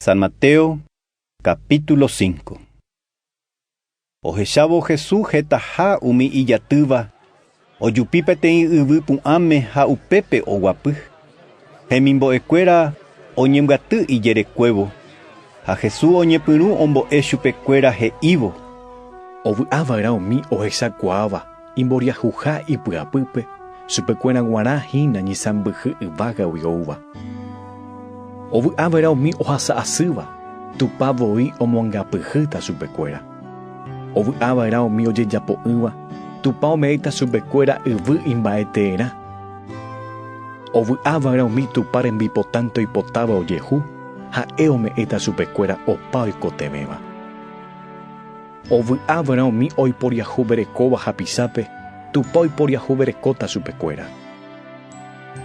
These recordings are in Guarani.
San Mateo, capítulo 5. Ohechávo Jesús hetaha umi ijatýva, ojupi peteĩ yvy pu'ãme ha upépe oguapy. Hemimbo'ekuéra oñembyaty ijerekuévo, ha Jesús oñepyrũ ombo'e chupekuéra he'ívo. Ovy'a va'erã umi ohechakuaáva. Imboriahuha ipy'apýpe, chupekuéra guarã hína ñisãmbyhy yvágagui oúva. Ovy'a va'erã umi ohasa asýva, Tupã voi omoangapyhýta chupekuéra. Ovy'a va'erã umi ojejapo'ỹva, Tupã ome'ẽta chupekuéra yvy imba'eteerã. Ovy'a va'erã umi Tupã rembipotánte oipotáva ojehu, Ha'e ome'ẽta chupekuéra opa oikotevẽva. Ovy'a va'erã umi oiporiahuverekóva hapisápe, Tupã oiporiahuverekóta chupekuéra.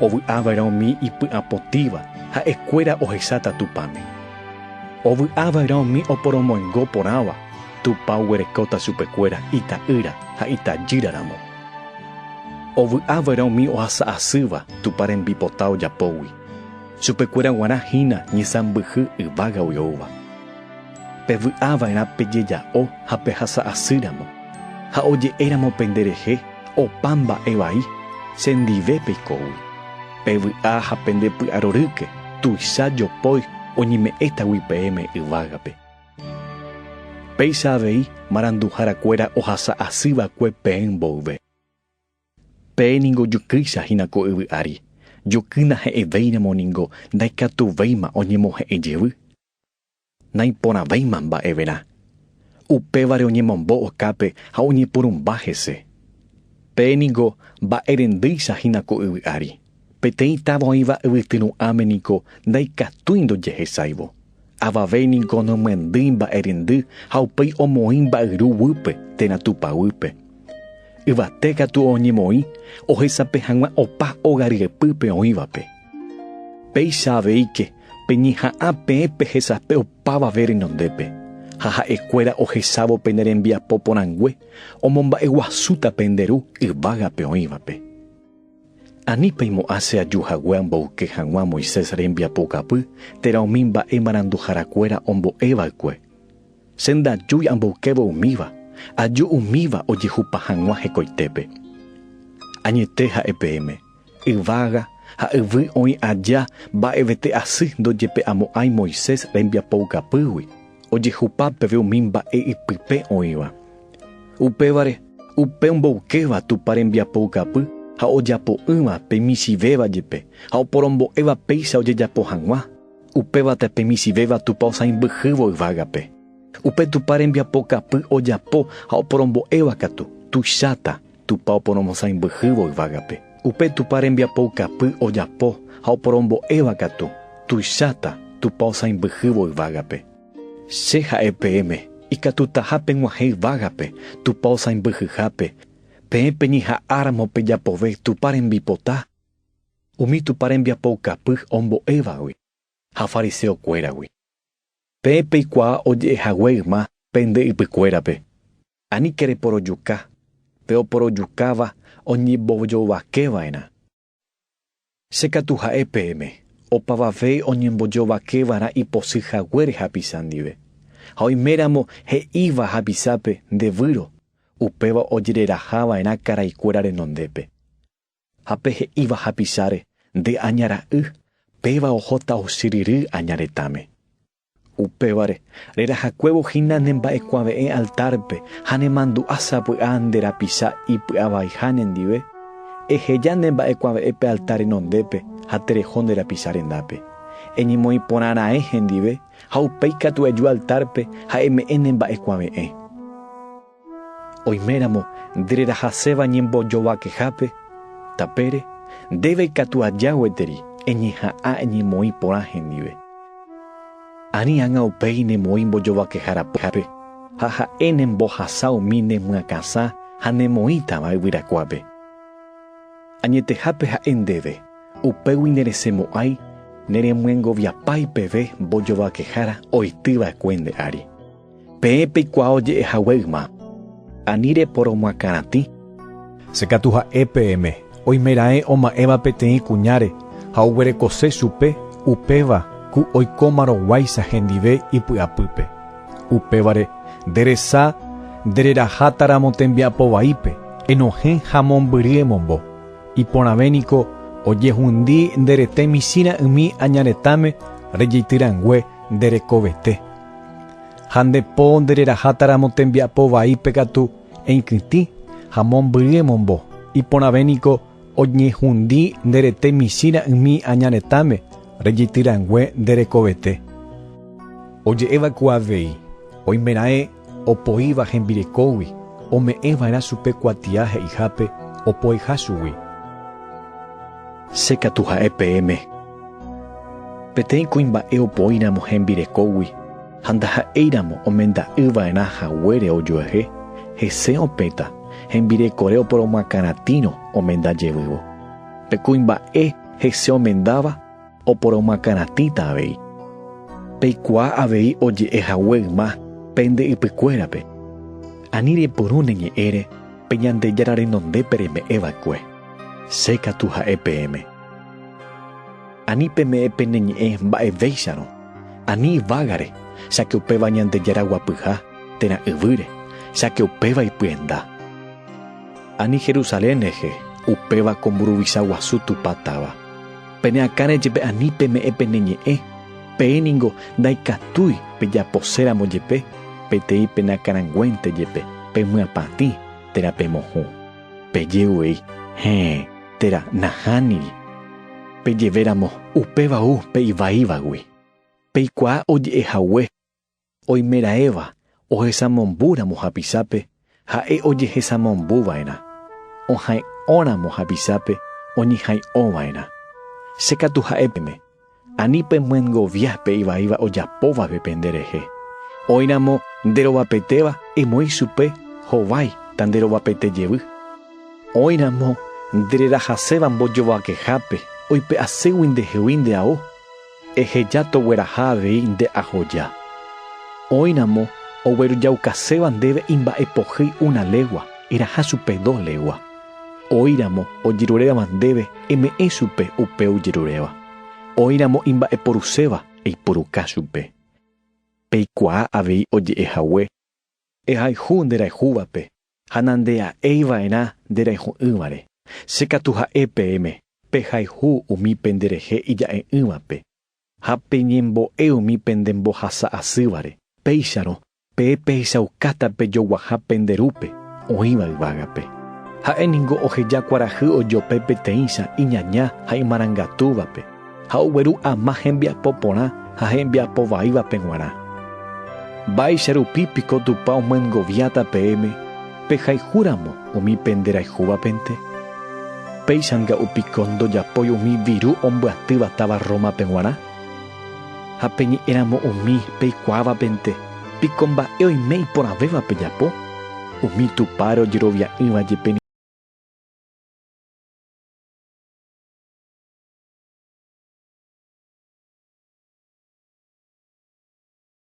Ovy'a va'erã umi ipy'apotĩva, ha'e kuéra ohesáta Tupãme. Ovy'a va'erã umi oporomoingo porãva, Tupã oguerekóta chupekuéra ita'ýra ha itajýra ramo. Ovy'a va'erã umi ohasa asýva Tupã rembipota ojapógui, chupekuéra guarã hína ñesãmbyhy yvága oi'oúva. Pevy'a va'erã pejeja'o ha pehasa asýramo, ha oje'éramo pende rehe opa mba'e vai, che ndive peikógui. Pevy'a ha pende py'arorýke tuicha jopói oñeme'ẽtagui peẽme yvágape. Péicha avei maranduhára kuéra ohasa asy va'ekue peẽ mboyve. Pe ningo jukýicha hína ko yvy ári, jukýna he'ẽvéiramo ningo ndaikatuvéima oñemohe'ẽ jevy. Naiporãvéima mba'everã. Upévare oñemombo okápe ha oñepurumba hese. Pe ningo mba'erendýicha hína ko yvy ári, peteĩ táva oĩva yvyty ru'ãme ningo ndaikatúi ndojehesáivo, avave ningo nomyendýi mba'erendy ha upéi omoĩ mba'yru guýpe térã tupaguýpe. Yvate katu oñemoĩ ohesape hag̃ua opa óga ryepýpe oĩvape. Péicha aveíke Peñeha'ã peẽ pehesape opavave renondépe, ha ha'e kuéra ohesávo pene rembiapo porãngue omomba'e guasúta pende ru yvágape oĩvape. Ani peimo'ã che aju hague amboyke hag̃ua Moisés rembiapokapy térã umi mba'e maranduhára kuéra ombo'e vaekue. Che ndajúi amboykévo umíva, aju umíva ojehupa hag̃ua hekoitépe. Añete ha'e peẽme, Yvága ha yvy oĩ aja mba'evete asy ndojepe'amo'ãi Moisés rembiapoukapýgui, ojehupa peve umi mba'e ipype oĩva. Upévare, upe omboykéva Tupã rembiapoukapy ha ojapo'ỹva pe michĩvéva jepe ha oporombo'éva péicha ojejapo hag̃ua, upévate pe michĩvéva Tupã osãimbyhývo yvágape. Upe Tupã rembiapokapy ojapo ha oporombo'éva katu, tuicháta. Tupã oporomosãimbyhývo yvágape. Upe Tupã rembiapoukapy ojapo ha oporombo'éva katu, tuicháta Tupã osãimbyhývo yvágape. Che ha'e peẽme, ikatutaha peg̃uahẽ yvágape Tupã osãimbyhyhápe, peẽ peñeha'ãramo pejapove Tupã rembipota, umi Tupã rembiapoukapy ombo'évagui, ha fariseokuéragui. Pe peikuaa oje'ehague yma pende ypykuérape, aníke reporojuka, pe oporojukáva oñembojovakeva'erã. Che katu ha'e peẽme, opavave oñembojovakevarã iposy haguére hapicha ndive, ha oiméramo he'íva hapichápe nde výro, upéva ojererahava'erã karaikuéra renondépe. Ha pe he'íva hapicháre, Nde aña ra'y, péva ohóta ochyryry aña retãme. Upévare, rerahakuévo hína ne mba'ekuave'ẽ altárpe ha ne mandu'a sapy'a nde rapicha ipy'avaiha nendive, eheja ne mba'ekuave'ẽ pe altar renondépe ha tereho nde rapicha rendápe. Eñemoĩ porã raẽ hendive ha upéi katu eju altárpe ha eme'ẽ ne mba'ekuave'ẽ. Oiméramo nde rerahaséva ñembojovakehápe tapére, ndéve ikatu aja gueteri eñeha'ã eñemoĩ porã hendive. Ani ágã upéi nemoĩ mbojovakeha rapyhápe, ha ha'e nembohasa umi nemyakãsã ha nemoĩtava yvyrakuápe. Añetehápe ha'e ndéve, upégui neresemo'ãi neremyengoviapái peve mbojovakehára oity va'ekue nde ári. Peẽ peikuaa oje'e hague yma, ani reporomoakãratĩ. Che katu ha'e peẽme, oimeraẽ oma'ẽva peteĩ kuñáre ha oguerekose chupe, upéva ku oikómarõ guáicha hendive ipy'apýpe. Upévare, nde resa nde reraháta ramo tembiapo vaípe, enohẽ ha mombyry emombo. Iporãve niko ojehundi nde rete michĩ ra'ymi aña retãme rejeity rangue nde rekovete. Ha nde po nde reraháta ramo tembiapo vaípe katu eikytĩ ha mombyry emombo, iporãve niko oñehundi nde rete michĩ ra'ymi aña retãme rejity rangue nde rekovete. Oje'éva ku avei, oimeraẽ opoíva hembirekógui ome'ẽ va'erã chupe kuatia he'ihápe opoeha chugui. Che katu ha'e peẽme Peteĩ kuimba'e opoíramo hembirekógui ha ndaha'éiramo omenda'ỹva'erã haguére ojuehe, hese opẽta hembirekore oporomoakãratĩrõ omenda jevývo. Pe kuimba'e hese omendáva oporomoakãratĩta avei. Peikuaa avei oje'e hague yma pende ypykuérape, Ani repyrũ ne ñe'ẽre pe Ñandejára renondépe reme'ẽva'ekue, che katu ha'e peẽme. Ani peme'ẽ pene ñe'ẽ mba'evéicharõ, ani yvágare, cháke upéva Ñandejára guapyha, térã yvýre, cháke upéva ipyenda. Ani Jerusalén rehe, upéva ko mburuvicha guasu Tupã táva. Pene akãre jepe ani peme'ẽ pene ñe'ẽ, peẽ ningo ndaikatúi pejaposéramo jepe, peteĩ penakarãnguénte jepe, pemyapatĩ, térã pemohũ. Peje'uei, Héẽ! Térã nahániri. Pejevéramo upéva ou pe ivaívagui, peikuaa oje'e hague, oimeraẽva ohesamombúramo hapichápe ha'e ojehesamombuva'erã, ohay'õramo hapichápe oñehay'õva'erã. Che katu ha'e pene, Ani pemyengovia pe ivaíva ojapóvape pende rehe. Oĩramo nderovapetéva, emoĩ chupe hovái ta nderovapaite jevy. Oĩramo ndererahaséva mbojovakehápe, oipe'aségui nde hegui nde ao, eheja togueraha avei nde ahoja. Oĩramo oguerujaukãséva ndéve imba'epohýi una légua, eraha chupe dos légua. Oĩramo ojeruréva ndéve, eme'ẽ chupe upe ojeruréva. Oĩramo imba'eporuséva, eipuruka chupe. Peikuaa avei oje'e hague. Ehayhu nde rayhúvape, ha nandea'éi va'erã nde rayhu'ỹvare. Che katu ha'e peẽme, pehayhu umi pende rehe ija'e'ỹvape, ha peñembo'e umi pende mbohasa asývare. Péicharõ, Pe pehechaukáta pejoguaha pende rúpe oĩva yvágape. Ha'e ningo oheja kuarahy ojope peteĩcha iñaña ha imarangatúvape, ha ogueru ama hembiapo porã ha hembiapo vaívape g̃uarã. Mba'éicha rupi piko Tupã omyengoviáta peẽme pehayhu ramo umi pende rayhúvapente? Péicha nga'u piko ndojapói umi viru ombyatýva táva Rómape g̃uarã? Ha pe ñe'ẽramo umi peikuaavapente, piko mba'e oime iporãvéva pejapo? Umi tupãre ojerovia'ỹva jepe ningo.